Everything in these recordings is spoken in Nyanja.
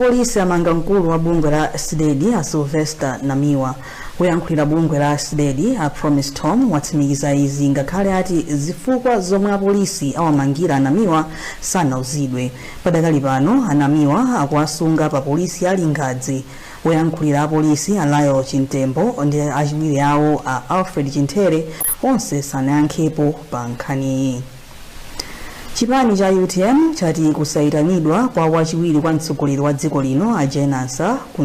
Apolisi amanga mkulu wa bungwe la Cdedi a Sylvester Namiwa. Woyankhulira bungwe la Cdedi a Promise Thom watsimikiza izi ngakhale ati zifukwa zomwe apolisi awamangira a Namiwa sanauzidwe. Padakali pano a Namiwa akuwasunga pa polisi ya Lingadzi. Woyankhulira apolisi a Lael Chimtembo ndi achiwiri awo a Alfred Chimthere onse sanayankhepo pa nkhaniyi. Chipani cha utm chati kusaitanidwa kwa wachiwiri kwa mtsogoleri wa dziko lino a Jane Ansah ku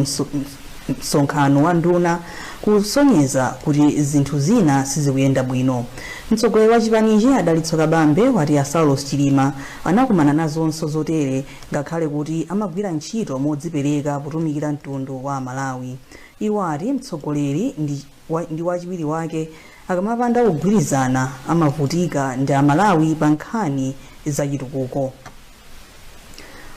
msonkhano wa nduna kusonyeza kuti zinthu zina sizikuyenda bwino. Mtsogoleri wa chipanichi a Dalitso Kabambe wati a Saulos Chilima anakumana nazonso zotere ngakhale kuti amagwira ntchito modzipereka kutumikira mtundu wa aMalawi. Iwo ati mtsogoleri ndi wachiwiri wake akamapanda kugwirizana amavutika ndi amalawi pa nkhani zachitukuko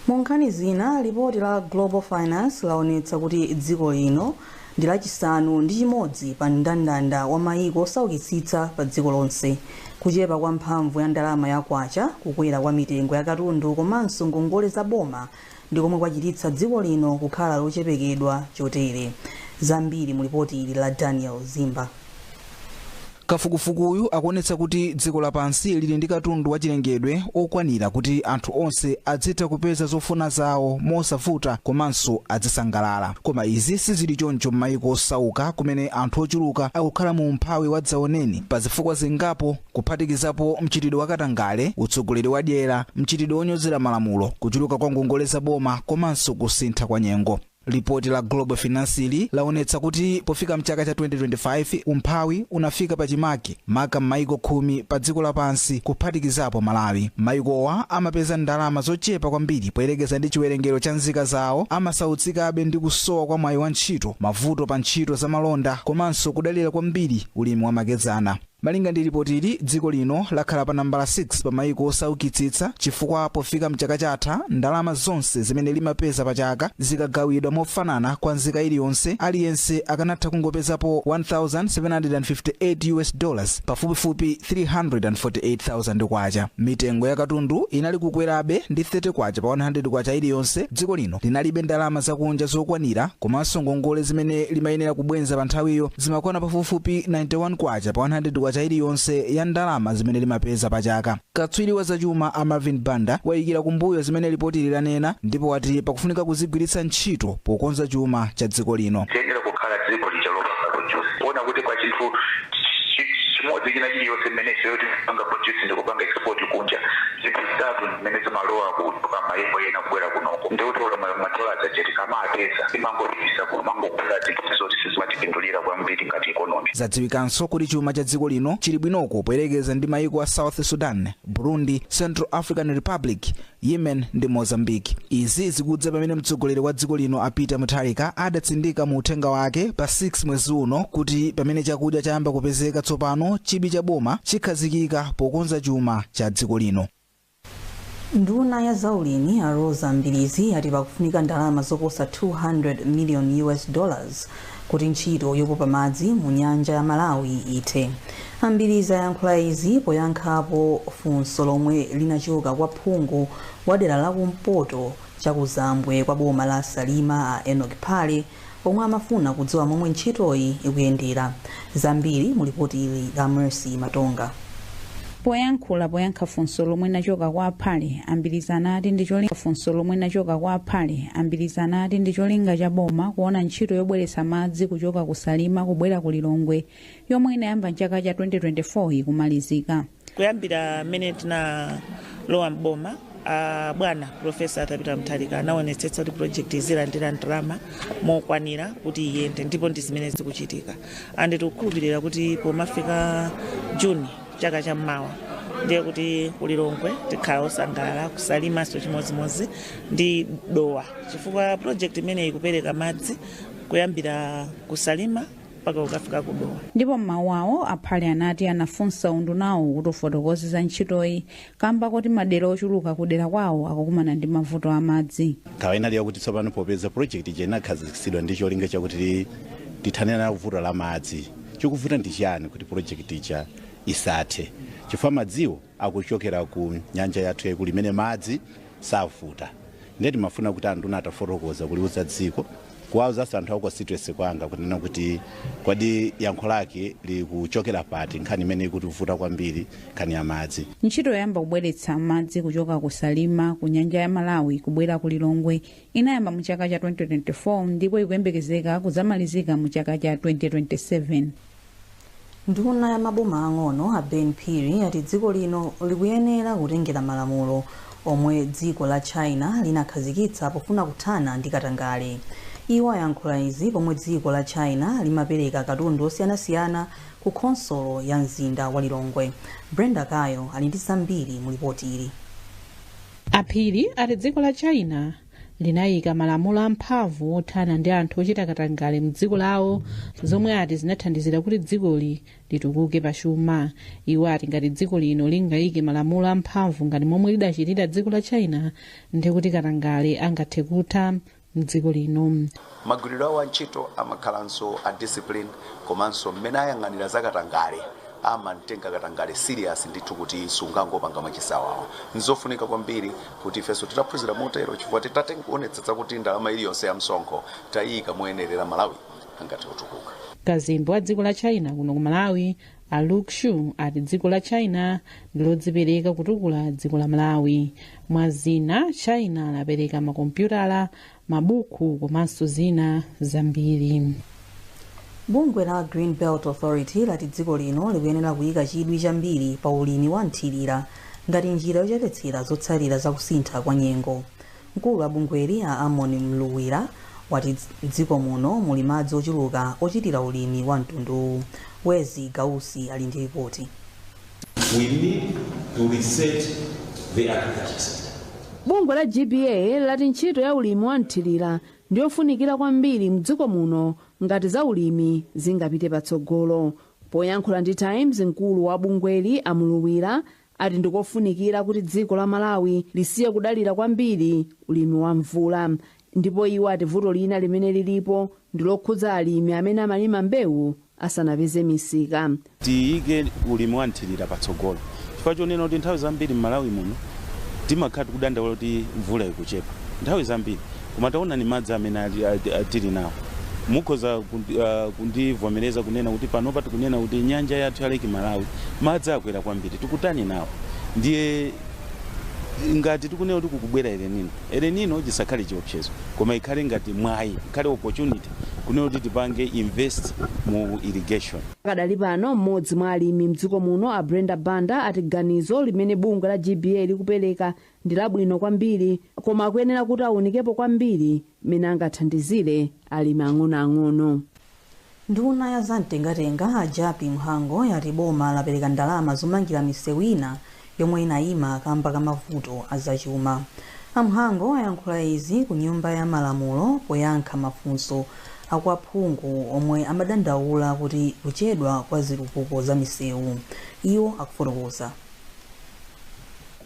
mu nkhani zina lipoti la global finance laonetsa kuti dziko lino ndi lachisanu ndi chimodzi pa mndandanda wa mayiko osaukitsitsa pa dziko lonse kuchepa kwa mphamvu ya ndalama ya kwacha kukwera kwa mitengo ya katundu komanso ngongole za boma ndi komwe kwachititsa dziko lino kukhala lochepekedwa chotere. Zambiri mu lipoti ili la Daniel Zimba. Kafukufukuyu akuonetsa kuti dziko lapansi lili ndi katundu wachilengedwe okwanira kuti anthu onse adzitha kupeza zofuna zawo mosavuta komanso adzisangalala. Koma izi sizili choncho m'mayiko osauka kumene anthu ochuluka akukhala mu umphawi wadzaoneni pa zifukwa zingapo kuphatikizapo mchitidwe wa katangale, utsogoleri wa dyera, mchitidwe wonyozera malamulo, kuchuluka kwa ngongole za boma komanso kusintha kwa nyengo. Lipoti la Global Finance'li laonetsa kuti pofika mchaka cha 2025 umphawi unafika pachimake maka m'mayiko khumi pa dziko lapansi kuphatikizapo Malawi. Mayikowa amapeza ndalama zochepa kwambiri poyerekeza ndi chiwerengero cha nzika zawo, amasautsikabe ndi kusowa kwa mwayi wa ntchito, mavuto pa ntchito za malonda komanso kudalira kwambiri ulimi wamakedzana. Malinga ndi lipotili, dziko lino lakhala pa nambala 6 pa mayiko osaukitsitsa chifukwa pofika m'chaka chatha, ndalama zonse zimene limapeza pachaka zikagawidwa mofanana kwa nzika iliyonse, aliyense akanatha kungopezapo 1,758 US dollars, pafupifupi K348,000. Mitengo ya katundu inali kukwerabe ndi K30 pa K100 iliyonse, dziko lino linalibe ndalama zakunja zokwanira komanso ngongole zimene limayenera kubwenza panthawiyo. zimakwana pafupifupi K91 pa K100 iliyonse ya ndalama zimene limapeza pachaka. Katswiri wa zachuma a Marvin Banda waikira kumbuyo zimene lipotili lanena ndipo wati pakufunika kuzigwiritsa ntchito pokonza chuma cha dziko lino. Tiyenera kukhala dziko lija lopanga produce kuona kuti kwa chinthu chi- chi- chimodzi china chiliyonse mmene ifeyo timapanga produce ndi kupanga export kunja zinthu zitatu mmene zimalowa kuchoka mayiko ena kubwera kunoko ndi kuti olo ma- madola aja tikamapeza timangopititsa kumangogula zinthu zoti sizimatipindulira kwambiri ngati ikonomi zadziwikanso kuti chuma cha dziko lino chili bwinoko poyerekeza ndi mayiko a south sudan burundi central african republic yemen ndi mozambique izi zikudza pamene mtsogoleri wa dziko lino a peter mutharika adatsindika mu uthenga wake pa 6 mwezi uno kuti pamene chakudya chayamba kupezeka tsopano chidwi cha boma chikhazikika pokonza chuma cha dziko lino Nduna ya zaulimi a Roza Mbilizi ati pakufunika ndalama zoposa 200 million US dollars kuti ntchito yopopa madzi mu nyanja ya Malawi ithe. A Mbilizi ayankhula izi poyankhapo funso lomwe linachoka kwa phungu wa dera la kumpoto chakuzambwe kwa boma la Salima a Enoch Phale omwe amafuna kudziwa momwe ntchitoyi ikuyendera. Zambiri mu lipoti ili la Mercy Matonga. Poyankhula poyankha funso lomwe linachoka kwa a Phale, a Mbilizi anati ndi cholinga funso lomwe linachoka kwa a Phale, a Mbilizi anati ndi cholinga cha boma kuona ntchito yobweretsa madzi kuchoka ku Salima kubwera ku Lilongwe yomwe inayamba m'chaka cha 2024 ikumalizika. kuyambira mmene tinalowa m'boma a bwana profesa arthur peter mutharika anaonetsetsa kuti project izilandira ndalama mokwanira kuti iyende ndipo ndi zimene zikuchitika andi tikukhulupirira kuti pomafika juni chaka cha mmawa ndiye kuti ku lilongwe tikhala osangalala ku salimanso chimodzimodzi ndi dowa chifukwa project imeneyi ikupereka madzi kuyambira ku salima mpaka ukafika ku dowa ndipo m'mawu awo a phale anati anafunsa undunawo kuti ufotokoze za ntchitoyi kamba koti madera ochuluka kudera kwawo akukumana ndi mavuto a madzi nkhawa inali yakuti tsopano popeza project ija inakhazikitsidwa ndi cholinga chakuti tithane nalo vuto la madzi chikuvuta ndi chiyani kuti project ija isathe chifukwa madziwo akuchokera ku nyanja yathu yaikulu imene madzi savuta ndiye timafuna kuti anduna atafotokoza kuliuza dziko kuwauzanso anthu aku constituency kwanga kunena kuti kodi yankho lake likuchokera pati nkhani imene ikutivuta kwambiri nkhani ya madzi ntchito yoyamba kubweretsa madzi kuchoka ku salima ku nyanja ya malawi kubwera ku lilongwe inayamba mu chaka cha 2024 ndipo ikuyembekezeka kudzamalizika mu chaka cha 2027 Nduna ya maboma ang'ono a Ben Phiri ati dziko lino likuyenera kutengera malamulo omwe dziko la China linakhazikitsa pofuna kuthana ndi katangale. Iwo ayankhula izi pomwe dziko la China limapereka katundu osiyanasiyana ku khonsolo ya mzinda wa Lilongwe. Brenda Kayo ali ndi zambiri mu lipoti ili. A Phiri ati dziko la China linaika malamulo amphamvu othana ndi anthu ochita katangale mdziko lawo zomwe ati zinathandizira kuti dzikoli litukuke pa chuma iwo ati ngati dziko lino lingaike malamulo amphamvu ngati momwe lidachitira dziko la china ndikuti katangale angathe kutha mdziko lino Magwiridwe awo a ntchito amakhalanso a discipline komanso mmene ayang'anira za katangale amamtenga katangale serious ndithu kuti sungangopanga mwachisawawa. Nzofunika kwambiri kuti ifenso titaphunzira motero chifukwa titati nkuonetsetsa kuti ndalama iliyonse ya msonkho taiika moyenerera Malawi angathe kutukuka. Kazembe wa dziko la China kuno ku Malawi a Lu Xu ati dziko la China ndilodzipereka kutukula dziko la Malawi. Mwa zina, China lapereka makompyutala, mabuku komanso zina zambiri bungwe la green belt authority lati dziko lino likuyenera kuyika chidwi chambiri pa ulimi wa mthirira ngati njira yochepetsera zotsalira za kusintha kwa nyengo mkulu wa bungweli a amon mluwira wati mdziko muno muli madzi ochuluka ochitira ulimi wa mtunduwu wezi gausi ali ndi ripoti We need to reset the agriculture sector. Bungwe la GBA lati ntchito ya ulimi wa mthirira ndi yofunikira kwambiri mdziko muno ngati za ulimi zingapite patsogolo. Poyankhula ndi Times mkulu wa bungweli a Mluwira ati ndikofunikira kuti dziko la Malawi lisiye kudalira kwambiri ulimi wa mvula. Ndipo iwo ati vuto lina limene lilipo ndi lokhudza alimi amene amalima mbewu asanapeze misika. Tiyike ulimi wa mthilira patsogolo chifukwa chonena kuti nthawi zambiri m'Malawi muno timakhala tikudandaula kuti mvula ikuchepa nthawi zambiri koma taonani madzi amene tili nawo. Mukhoza kundivomereza kunena kuti panopa tikunena kuti nyanja yathu ya Lake Malawi madzi akwera kwambiri, tikutani nawo? Ndiye ngati tikunena kuti kukubwera El Nino. El Nino chisakhale chiopsezo koma ikhale ngati mwayi, ikhale opportunity kunena kuti tipange invest mu irrigation. Pakadali pano m'modzi mwa alimi m'dziko muno a Brenda Banda ati ganizo limene bungwe la GBA likupereka ndi labwino kwambiri koma akuyenera kuti awunikepo kwambiri m'mene angathandizire alimi ang'onoang'ono. Nduna ya za mtengatenga a Jappie Mhango yati boma lapereka ndalama zomangira misewu ina yomwe inayima kamba ka mavuto a zachuma. A Mhango ayankhula izi ku nyumba ya malamulo poyankha mafunso a kwa aphungu omwe amadandaula kuti kuchedwa kwa zitukuko za misewu. Iwo akufotokoza.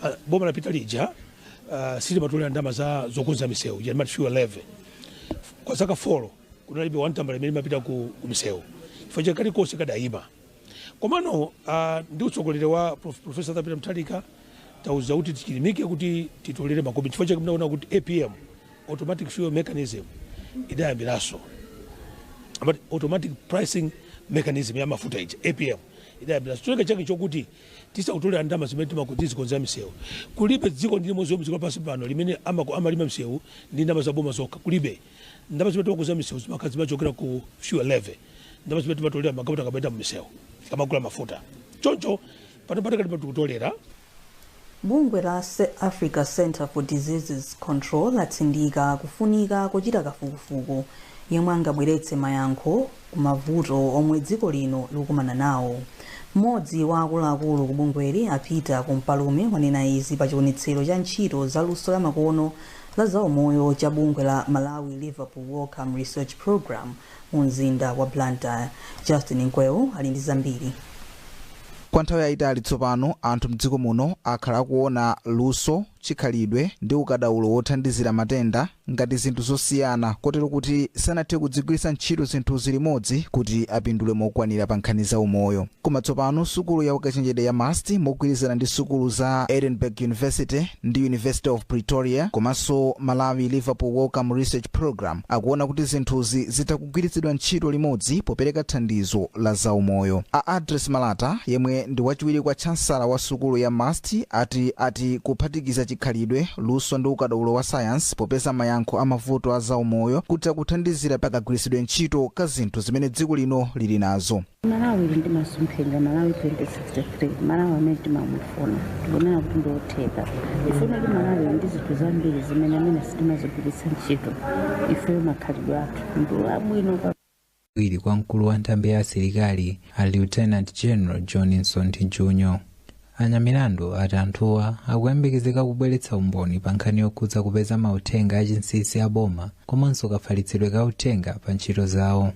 Uh, boma lapita lija uh, silimatolera ndalama za zokonza misewu ija timati fuel levy kwa zaka folo kunalibe wantambala imene imapita ku ku misewu chifukwa cha chakuti kalikonse kadayima komano ah, ndi utsogoleri wa Prof- profesa atha pita muthalika atiuza kuti tichilimike kuti titolere makumi chifukwa chake mnaona kuti apm automatic fuel mechanism idayambiranso but automatic pricing mechanism ya mafuta ija apm idayambira cholinga chake choti tizitolera ndalama zimene timakonzera misewu kulibe dziko ndi limodzi lomwe dziko lapansi pano limene amako- amamanga misewu ndi ndalama za boma zokha kulibe Ndalama zimene timakonzera misewu zimakhala zimachokera ku fuel levy, ndalama zimene timatolera magalimoto akamayenda m'misewu, tikamagula mafuta. Choncho pano patakati pano tikutolera Bungwe la Africa Centre for Diseases Control latsindika kufunika kochita kafukufuku yemwe angabweretse mayankho ku mavuto omwe dziko lino likukumana nawo. Mmodzi wa akuluakulu ku bungweli a Peter Kumpalume wanena izi pa chionetsero cha ntchito za luso lamakono la zaumoyo cha bungwe la Malawi Liverpool Wellcome Research Programme mu mzinda wa Blantyre. Justin Mkweu ali ndi zambiri. Kwa nthawi yayitali tsopano anthu mdziko muno akhala akuona luso, chikhalidwe ndi ukadaulo wothandizira matenda ngati zinthu zosiyana kotero kuti sanathe kudzigwiritsa ntchito zinthuzi limodzi kuti apindule mokwanira pa nkhani za umoyo. Koma tsopano sukulu ya ukachenjede ya must mogwirizana ndi sukulu za Edinburgh University ndi University of Pretoria komanso Malawi Liverpool Wellcome Research Programme akuona kuti zinthuzi zitha kugwiritsidwa ntchito limodzi popereka thandizo la za umoyo. A Address Malata yemwe ndi wachiwiri kwa chansala wa sukulu ya must ati ati kuphatikiza chikhalidwe, luso ndi ukadaulo wa sayansi popeza mayankho a mavuto a za umoyo kutha kuthandizira pa kagwiritsidwe ntchito ka zinthu zimene dziko lino lili nazo. malawi ili ndi masomphenya malawi 2063 malawi amene timamufuna tikunena kuti ndi otheka ifuna kuti malawi ndi zinthu zambiri zimene amene sitimazigwiritsa ntchito ifeyo makhalidwe athu ndi abwino wachiwiri kwa mkulu wa nthambi ya asilikali a lieutenant general john msonthi junior anyamilandu ati anthuwa akuyembekezeka kubweretsa umboni pa nkhani yokhudza kupeza mauthenga achinsinsi a boma komanso kafalitsidwe ka uthenga pa ntchito zawo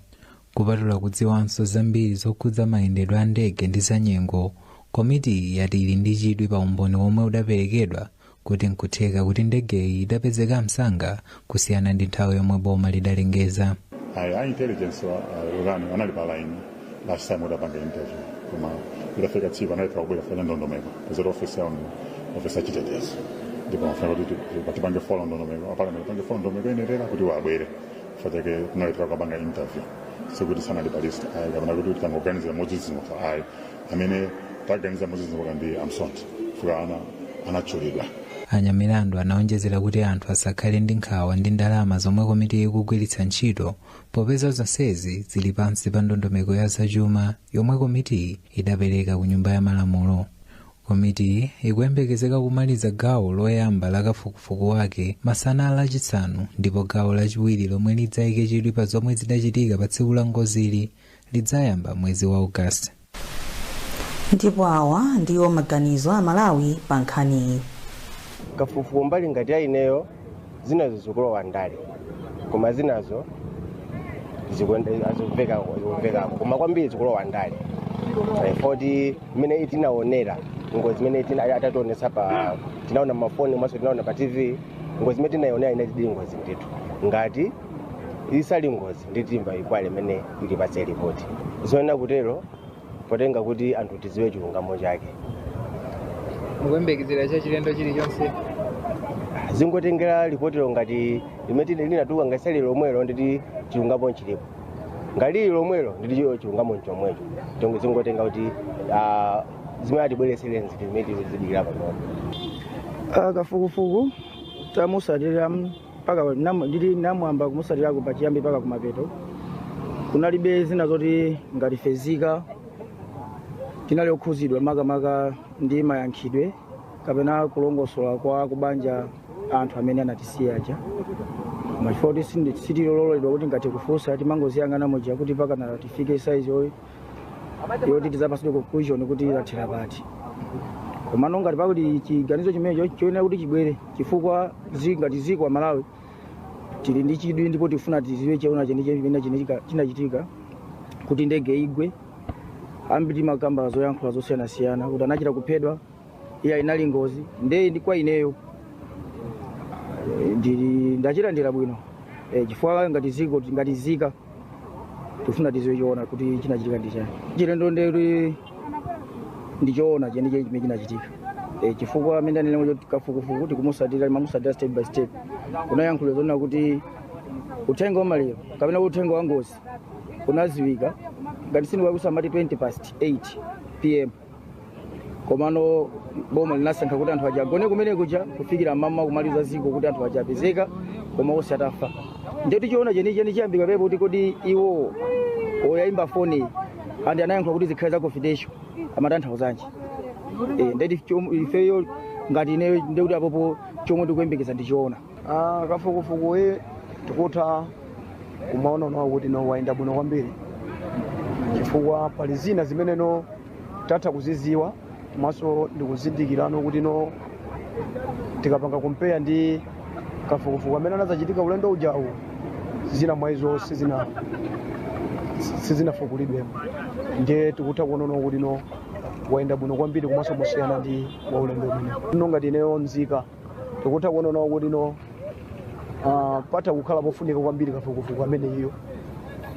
Kupatula kudziwanso zambiri zokhudza mayendedwe a ndege ndi za nyengo, komitiyi yati ili ndi chidwi pa umboni womwe udaperekedwa kuti nkutheka kuti ndegeyi idapezeka msanga kusiyana ndi nthawi yomwe boma lidalengeza. Ayi, a intelligence wa uh, Lolani anali pa line last time udapanga interview koma idafika tsiku analephera kubwera fanya ndondomeko kuzera ofisi yawo ofisi ya chitetezo ndipo mafuna kuti tipange follow ndondomeko mpaka tipange follow ndondomeko inerera kuti wabwere fatake kunali takapanga interview sikuti sanali pa list ayi kapena kuti kuti tangoganiza modzidzimuka ayi amene taganiza modzidzimuka ndi amsonti fuka ana anatchulidwa anyamilandu anaonjezera kuti anthu asakhale ndi nkhawa ndi ndalama zomwe komiti ikugwiritsa ntchito popeza zonsezi zili pansi pa ndondomeko ya zachuma yomwe komitiyi idapereka ku nyumba ya malamulo Komitiyi ikuyembekezeka kumaliza gawo loyamba la kafukufuku wake masana lachisanu ndipo gawo lachiwiri lomwe lidzaike chidwi pa zomwe zidachitika pa tsiku la ngozili lidzayamba mwezi wa August. Ndipo awa ndiwo maganizo a Amalawi pa nkhaniyi. kafukufuku mbali ngati ya ineyo zinazo zikulowa ndale koma zinazo zikuende- zikuveka zikuvekako koma kwambiri zikulowa ndale Eh, poti imene tinaonera ngozi imene tina- atationetsa pa tinaona mafoni komanso tinaona pa tv ngozi imene tinaionera inati ndi ngozi ndithu ngati isali ngozi nditimva ikwale imene ili pa lipoti zoyenera kutero potengera kuti anthu tidziwe chilungamo chake mukuyembekezera chachilendo chilichonse zingotengera lipotilo ngati limene linatuluka ngati sali lomwelo nditi chilungamo nchilipo ngati lili lomwelo nditi chilo chilungamo nchomwecho chonge zingotengera kuti ah, zimene atibweretsere nziti zimene tizidikira panopo Ah, kafukufuku tamusatirira mpaka nam- ndili namwamba kumusatirako pachiyambi mpaka kumapeto kunalibe zina zoti ngati ife nzika tinali okhuzidwa makamaka ndi mayankhidwe kapena kulongosola kwa kubanja anthu amene anatisiya aja mwachifukwa kuti sindi- sitiloledwa kuti ngati kufunsa timangoziyang'ana muja kuti pakana tifike saizi oyi yoti tidzapatsidwe conclusion kuti lathera pati komano ngati pakuti chiganizo chimenecho choyenera kuti chibwere chifukwa zi- ngati dziko Amalawi tili ndi chidwi ndipo tifuna tidziwe choona chenicheni chinachitika kuti ndege igwe ambiri amakamba zoyankhula zosiyanasiyana kuti anachita kuphedwa iyayi inali ngozi nde ndi kwa ineyo eh, ndili ndachilandira bwino eh, chifukwa ngati dziko ngati nzika tifuna tidziwe choona kuti chinachitika ndi chani chilendo ndeli ndichoona chenicheni chimene chinachitika eh, chifukwa amene anena kuti kafukufuku tikumusatira mamusatira step by step kunayankhula zoona kuti uthenga wamaliro kapena kuti uthenga wa ngozi unadziwika ngati sindikulakwitsa amati 20 past 8 pm komano boma linasankha kuti anthu aja agone kumene kuja kufikira mmawa kumaliuza dziko kuti anthu aja apezeka koma onse atafa ndiye kuti choona chenicheni chiyambika apapo kuti kodi iwo oyayimba foni and anayankha kuti zikhale za confidential amatanthauzanji e, ndeti ifeyo ngati ineyo ndekuti apopo chomwe ndikuyembekeza ndi choona Ah, kafukufukuyi tikutha kumaonano kuti no wayenda bwino kwambiri chifukwa pali zina zimene no tatha kuziziwa komanso ndikuzindikirano kuti no tikapanga compare ndi kafukufuku amene anazachitika ulendo ujawu zina mwa izo sizina sizinafukulidwemo ndiye tikutha kuonana kuti no wayenda bwino kwambiri komanso mosiyana ndi waulendo umene no ngati ineyo nzika tikutha kuona nawo kuti no ah, patha kukhala pofunika kwambiri kafukufuku ameneyo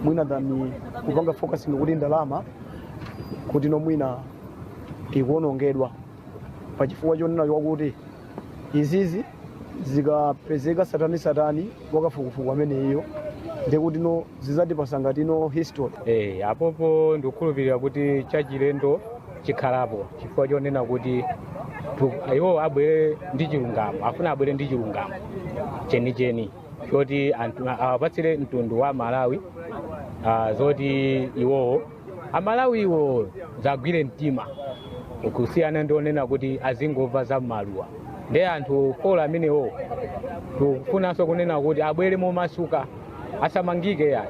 mwina than kupanga focusing kuti ndalama kuti no mwina ikuonongedwa pa chifukwa chonena chakuti izizi zikapezeka tsatanetsatane wakafukufuku ameneyo ndekuti no zizatipasa ngati no history Eh, apopo ndikukhulupirira kuti chachilendo chikhalapo chifukwa chonena kuti tu- iwo abwere ndi chilungamo afuna abwere ndi chilungamo chenicheni choti anthu- awapatsire mtundu wa amalawi ah, zoti iwowo amalawiwo zagwire mtima kusiyana ndi kunena kuti azingomva zamaluwa ndi anthu four amenewo tikufunanso kunena kuti abwere momasuka asamangike yayi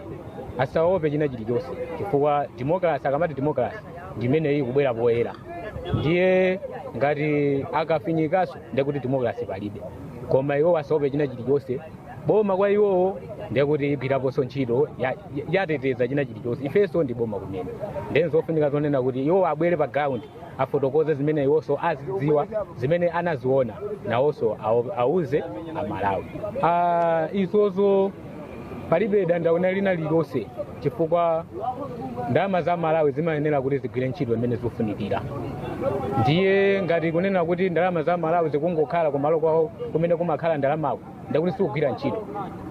asaope china chilichonse chifukwa demokrasi akamati demokrasi ndi imeneyi kubwera poyera ndiye ngati akafinyikaso ndiye kuti demokrasi palibe koma iwo asaope china chilichonse boma kwa iwowo ndiye kuti igwiraponso ntchito ya- ya- yateteza china chilichonse ifenso ndi boma kumene ndiye zofunika zonena kuti iwo abwere pa ground afotokoze zimene iwonso azidziwa zimene anaziona nawonso awo- auze amalawi Ah, izozo palibe dandaulo lina lililonse chifukwa ndalama za malawi zimayenera kuti zigwire ntchito imene zikufunikira ndiye ngati kunena kuti ndalama za malawi zikungokhala kumalo kwawo kumene kumakhala ndalamako ndekuti sizikugwira ntchito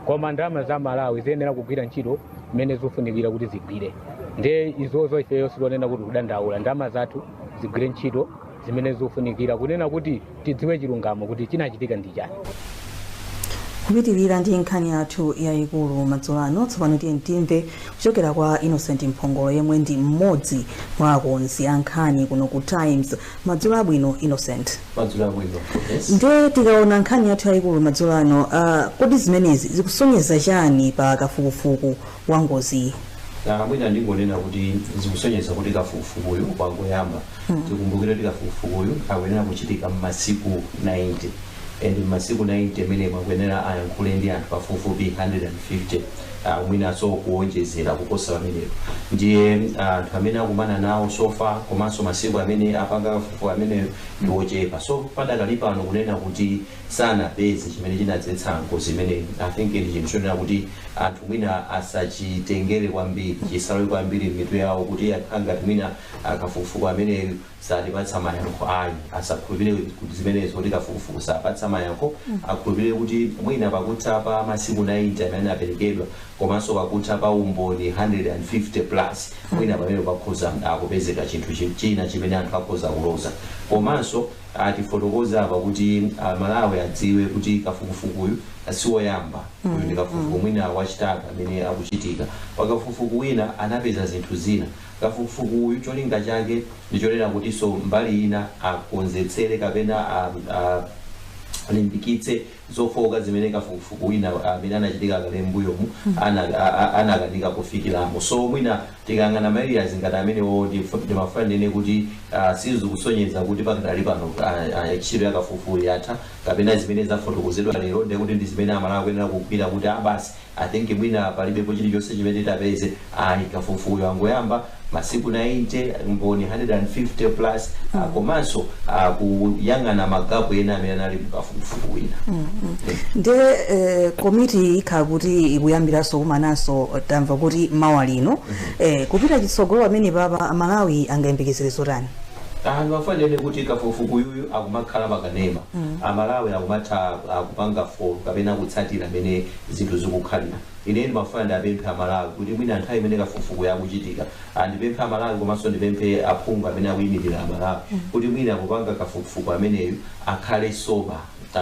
koma ndalama za malawi ziyenera kugwira ntchito imene zikufunikira kuti zigwire ndiye izozo ifeyo sitonena kuti kudandaula ndalama zathu zigwire ntchito zimene zikufunikira kunena kuti tidziwe chilungamo kuti chinachitika ndi chani kupitirira ndi nkhani yathu yayikulu madzulo ano tsopano tiyeni timve kuchokera kwa innocent mphongolo yemwe ndi mmodzi mwa akonzi a nkhani kuno ku times madzulo abwino innocent madzulo abwino yes. nde tikaona nkhani yathu yayikulu madzulo ano uh, kodi zimenezi zikusonyeza chani pa kafukufuku wa ngoziyo. Ah, mwina ndingonena kuti zikusonyeza kuti kafukufukuyu wangoyamba tikumbukire kuti kafukufukuyu akuyenera kuchitika m'masiku 90 and m'masiku 90 amenewa akuyenera ayankhule ndi anthu pafupifupi 150 ah, mwinanso kuwonjezera kuposa pamenepo ndiye ah, anthu amene akumana nawo so far komanso masiku amene apanga kafukufuku ameneyo ndi ochepa so padakali pano kunena kuti sanapeze chimene chinadzetsa ngozi imeneyi. I think ndi chinthu chonena kuti anthu mwina asachitengere kwambiri, chisalowe kwambiri m'mitu yawo kuti akhala ngati mwina ah, kafukufuku ameneyu satipatsa mayankho ayi. Asakhulupirire kuti zimenezo kuti kafukufuku sapatsa mayankho, akhulupirire kuti mwina pakutha pa masiku 90 amene anaperekedwa komanso pakutha pa umboni 150 plus mwina pamene pakhoza akupezeka chinthu chi- china chimene anthu akhoza kuloza komanso atifotokoza apa kuti a Malawi adziwe kuti kafukufukuyu siwoyamba uyu ndi kafukufuku mwina wachitatu amene akuchitika. Pa kafukufuku wina anapeza zinthu zina. Kafukufuku uyu cholinga chake ndi chonena kutinso mbali ina akonzetsere kapena a, a, alimbikitse zofooka zimene kafukufuku wina amene anachitika kale m'mbuyomu anakanika kufikiramo. So mwina tikayang'ana ma areas ngati amenewo ndimafuna ndinene kuti sizikusonyeza kuti pakadali pano ntchito ya kafukufuku yatha kapena zimene zafotokozedwa lero ndekuti ndi zimene Amalawi akuyenera kugwira kuti basi I think mwina palibepo chilichonse chimene tapeze ayi kafukufukuyu wangoyamba masiku 90 mboni 150 plus mm. uh, komanso uh, kuyang'ana magapu ena amene anali mukafukufuku wina mm -hmm. yeah. nde eh, komiti ikhala kuti ikuyambiranso kumananso tamva kuti mawa lino mm -hmm. eh, kupita chitsogolo pamene papa Amalawi angayembekezere zotani anthu pofanana kuti kafukufukuyu akumakhala pakanema mm. amalawi akumatha kupanga folo kapena kutsatira amene zinthu zikukhalira. Ine ndimafuna ndiapemphe a Malawi kuti mwina nthawi imene kafukufukuyu akuchitika, a ndipemphe a Malawi komanso ndipemphe a phungu amene akuimilira a Malawi kuti mwina popanga kafukufuku ameneyu akhale sober,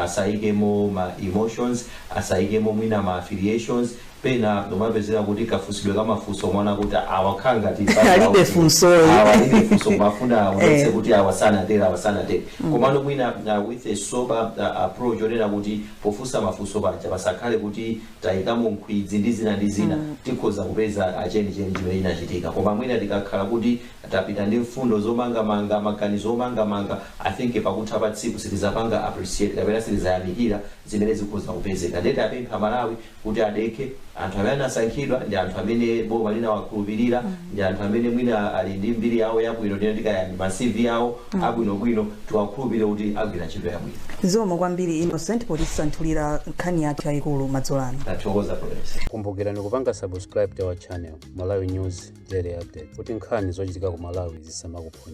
asaikemo ma emotions, asaikemo mwina ma affiliations, pena ndikumapezeka kuti kafunsidwe ka mafunso umaona kuti awa akhala ngati mbali yawo Alibe zina. funsoyi. Awa alibe funso koma afuna aonetse Eh. kuti awa sanatero awa sanatero komano mwina uh, with a sober uh, approach onena kuti pofunsa mafunso paja pasakhale kuti tayikamo nkhwidzi ndi zina ndi zina mm. tikhoza kupeza chenicheni chimene chinachitika koma mwina tikakhala kuti tapita ndi mfundo zomangamanga maganizo omangamanga i think pakutha pa tsiku sitizapanga appreciate kapena sitizayamikira zimene zikhoza kupezeka nde tiapemphe Amalawi kuti adekhe, anthu amene anasankhidwa ndi anthu amene boma linawakhulupirira, ndi anthu amene mwina ali ndi mbiri yawo yabwino, tinene kuti kaya ndi ma CV awo abwinobwino, tiwakhulupirire kuti agwira ntchito yabwino. Zikomo kwambiri Innocent potisanthulira nkhani yathu yayikulu madzulo ano. Ndathokoza Florence. Kumbukirani kupanga subscribe to our channel Malawi News Daily Update kuti nkhani zochitika ku Malawi zisamakuphonyeni.